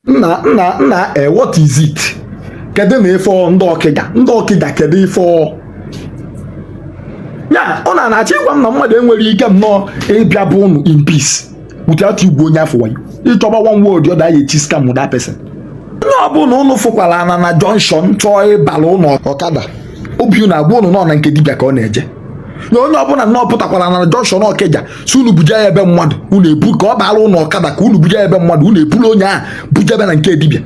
nna nna nna e eh, what is it kedu na ife ndị ọkịja ndị ọkịja kedu ife ya ị na-achọ ịgwa m na mmadụ enwere ike nnọọ ịbịa be ụnụ in peace without igwu onye afụ wayo ịchọba one way or the other eji scam that person onye ọbụla ụnụ fụkwara ana na junction chọọ ịbara ụnụ ọkada obi na-agwa ụnụ na ọ na nke dibịa ka ọ na-eje na onye ọbụla nnọọ pụtakwara na junction ọkịja si unu buja ya ebe mmadụ unu ebu ka ọ baara unu ọkada ka unu buja ya ebe mmadụ unu eburu onye ahụ bujebe na nke dibịa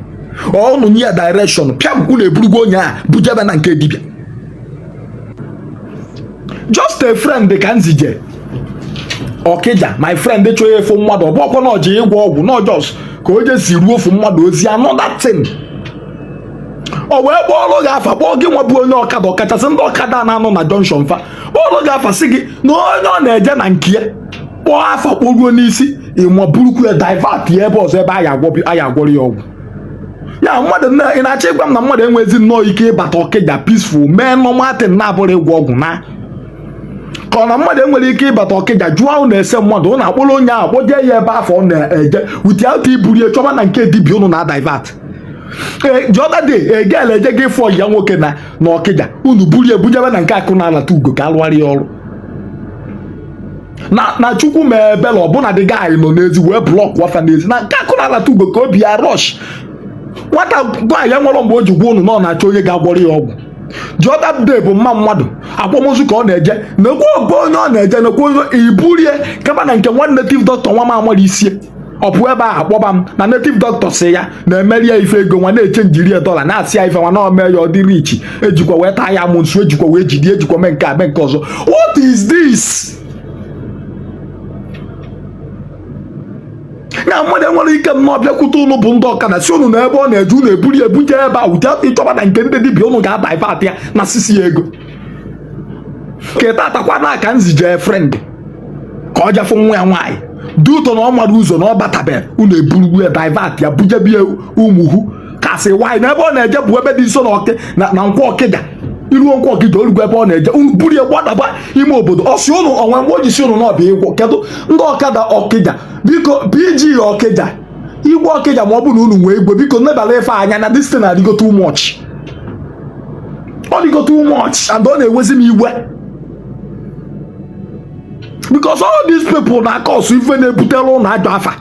unu nye ya direction pịam unu eburugo onye ahụ bujebe na nke dibịa just a friend ka m zije ọkịja my friend chọọ ịjafụ mmadụ ọ bụrọkwa na o je ịgwọ ọgwụ na ọ just ka o je ziruo ofu mmadụ ozi another thing o wee kpọọrọ gị afa kpọọ gị nwa bụ onye ọkada ọkachasị ndị ọkada na-anọ na junction fa kpọọrọ gị afa sị gị na onye ọ na-eje na nke ya kpọọ afa kpọruo n'isi gịnwa burukwu ya divert ya ebe ọzọ ebe a ya-agwọrọ ya ọgwụ ya mmadụ ị na-achọ ịgwa m na mmadụ enwezi nnọọ ike ịbata ọkịja peaceful mee normal thing na-abụrọ ịgwọ ọgwụ na ka ọ na mmadụ enwere ike ịbata ọkịja jụọ ụnụ ese mmadụ ụnụ akpọrọ onye ahụ kpọjee ya ebe afụ ọ na-eje without iburu ya chọba na nke dibịa ụnụ na divert ee eh, the other day a girl je ịfụ ọyị ya nwoke na na ọkịja unu burie bujebe na nke akụ na alata ugo ka a rụara ya ọrụ na na chukwu mee ebele ọ bụ na the guy nọ n'ezi wee block fa n'ezi na nke akụ na alata ugo ka ọ bịa rush nwata nwaanyị a o nwere mgbe o ji gwa unu na ọ na-achọ onye ga-agwọrọ ya ọgwụ the other day bụ mma mmadụ akwamozu ka ọ na-eje nekwa be onye ọ na-eje nekwa onye iburie kaba na nke nwa native doctor nwa m amara isie ọ bụ ebe ahụ a kpọba m na native doctor sị ya na-emeri ya ife ego nwa na-echangeri ya dollar na-asị ya ife nwa na o mee ya ọ dị rich ejikwa wee taa ya amusu ejikwa wee jide ejikwa mee nke a mee nke ọzọ what is this na mmadụ enwere ike nnọọ bịakwute ụnụ bụ ndị ọkada sị ụnụ na ebe ọ na-eje ụnụ eburu ya ebuje ebe a without ịchọba na nke ndị dibịa ụnụ ga-adivert ya na sisi ya ego kịta taakwa nwa ka m zije friend ka ọ jafụ nwa ya nwaanyị due to na ọ marọ ụzọ na ọ batabe unu eburu ya divert ya bujebie umuhu kasị nwaanyị na ebe ọ na-eje bụ ebe dị nso na ọkị na na nkwọ ọkịja i ruo nkwọ ọkịja o rugo ebe ọ na-eje unu buru ya gbadaba ime obodo ọ sị ụnụ o nwere mgbe o ji sị ụnụ na ọ bịa ịgwọ kedụ ndị ọkada ọkịja biko pg ọkịja igwe ọkịja ma ọ bụ na unu nwee igwe biko nebara ife anya na this thing adịgo too much ọ dịgo too much and ọ na-ewezi m iwe because all these people na-acause ife na-ebutere unu ajọ afa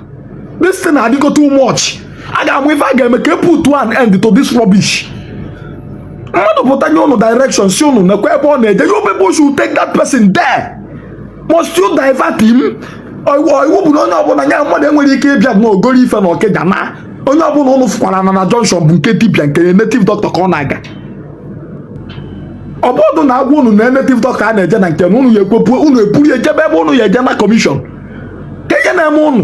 this thing adịgo too much a ga-ama ife a ga-eme ka e put an end to this rubbish mmadụ pụta nye ụnụ direction sị ụnụ nekwa ebe ọ na-eje you people should take that person there must you divert him iwu bụ na onye ọbụla ya mmadụ enwere ike ịbịa na ogoro ife na ọkịja na onye ọbụla unu fụkwara na na junction bụ nke dibịa nke native doctor ka ọ na-aga ọ bụrụ na a gwa unu na native doctor a na-eje na nke na unu ya ekwepu unu eburu ya ejebe ebe unu ya eje na commission ka ihe na-eme unu